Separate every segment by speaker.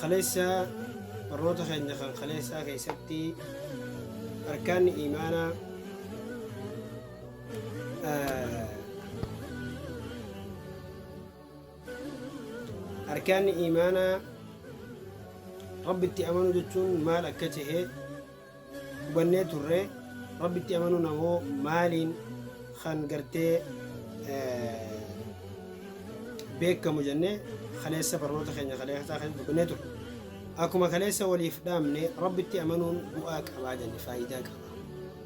Speaker 1: Kaleessa barnoota keenya kan kaleessaa keessatti arkaanni imaanaa arkaanni imaanaa rabbitti amanuu jechuun maal akka ta'e hubannee turre rabbitti amanuun ammoo maaliin kan gartee beekamu jennee kaleessa barnoota keenya kaleessaa kan dubbannee turre akkuma kaleessa waliif dhaamne rabbitti amanuun bu'aa qabaa jenne faayidaa qaba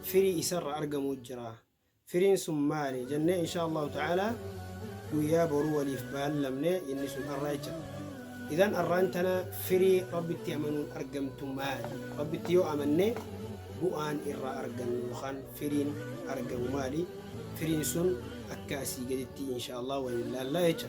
Speaker 1: firii isarra argamuu jira Firiin sun maali? jennee inshaa Allaahu ta'aalaa guyyaa boruu waliif baallamne, inni sun arra jecha. Idhan arraan tana firii Rabbitti amanuun argamtu maali? Rabbitti yoo amanne bu'aan irraa argannu yookaan firiin argamu maali? Firiin sun akka asii gaditti inshaa Allaahu waliin laallaa jecha.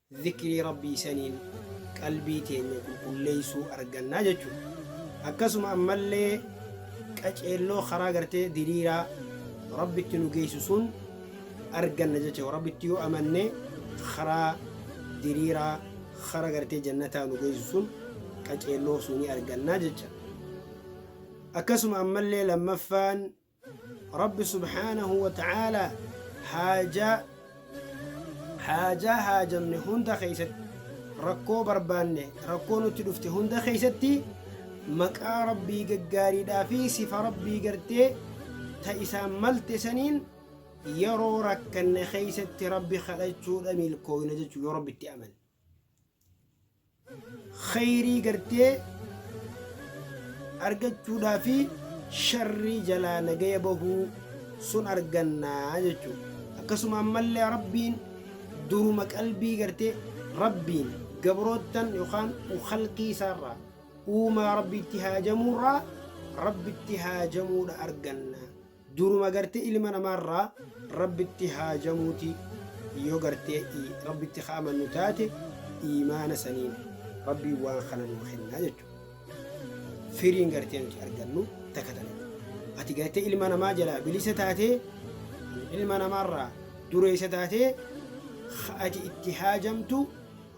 Speaker 1: Zikrii Rabbii saniin qalbii teenya qulqulleessuu arganna jechuudha. Akkasuma ammallee qaceelloo karaa gartee diriiraa Rabbitti nu geessu sun arganna jechuudha. Rabbitti yoo amanne karaa diriiraa karaa gartee jannataa nu geessu sun qaceelloo sunii arganna jecha. Akkasuma ammallee lammaffaan Rabbi subhaanahu wa ta'aalaa haajaa haajaa haajamne hunda keessatti rakkoo barbaanne rakkoo nutti dhufte hunda keessatti maqaa rabbii gaggaariidhaa fi sifa rabbii gartee ta isaan malte saniin yeroo rakkanne keessatti rabbi kadhachuudha milkooyna jechuu yoo rabbitti amane kheyrii gartee argachuudhaa fi sharrii jalaa nagaya bahuu sun argannaa jechuudha akkasuma ammallee rabbiin duruma qalbii gartee rabbiin gabroottan yookaan halqii isaarraa uumaa rabbiitti haajamuurraa rabbitti haajamuudha arganna Duruma gartee ilma namaa irraa Rabbitti haajamuuti yoo gartee Rabbitti ka amannu taate iimaana saniin Rabbiin waan kana nuu kennaa jechuudha. Firiin gartee nuti argannu takka tana. Ati gartee ilma namaa jalaa bilisa taatee ilma namaarraa dureessa taatee ka ati itti haajamtu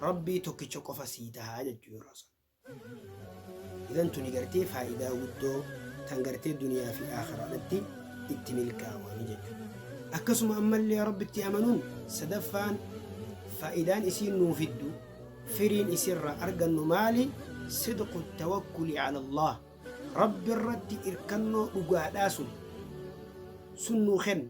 Speaker 1: Rabbii tokkicha qofa sii tahaa jechuudha. Idan tuni gartee faayidaa guddoo tan gartee duniyaa fi aakhiraadhatti itti milkaawanii jechuudha. Akkasuma ammallee rabbitti amanuun sadaffaan faayidaan isiin nuu fiddu firiin isirraa argannu maali? Sidqu tawakkuli ala Allah. Rabbi irratti irkannoo dhugaadhaa sun sun nuu kenna.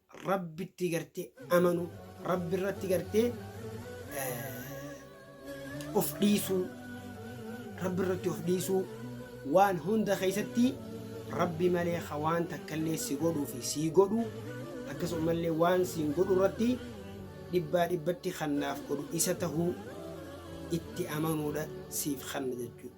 Speaker 1: Rabbitti gartee amanuu, Rabbi irratti gartee eh, of dhiisuu, Rabbi irratti of dhiisuu waan hunda keessatti Rabbi malee ka waan takkallee si godhuu fi sii godhu akkasumallee waan siin godhu irratti dhibbaa dhibbatti kan naaf godhu isa tahuu itti amanuudha siif kanna jechuudha.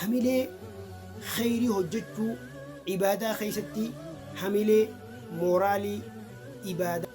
Speaker 1: Hamilee kheyrii hojjachuu, ibaadaa keessatti hamilee, mooraalii, ibaadaa.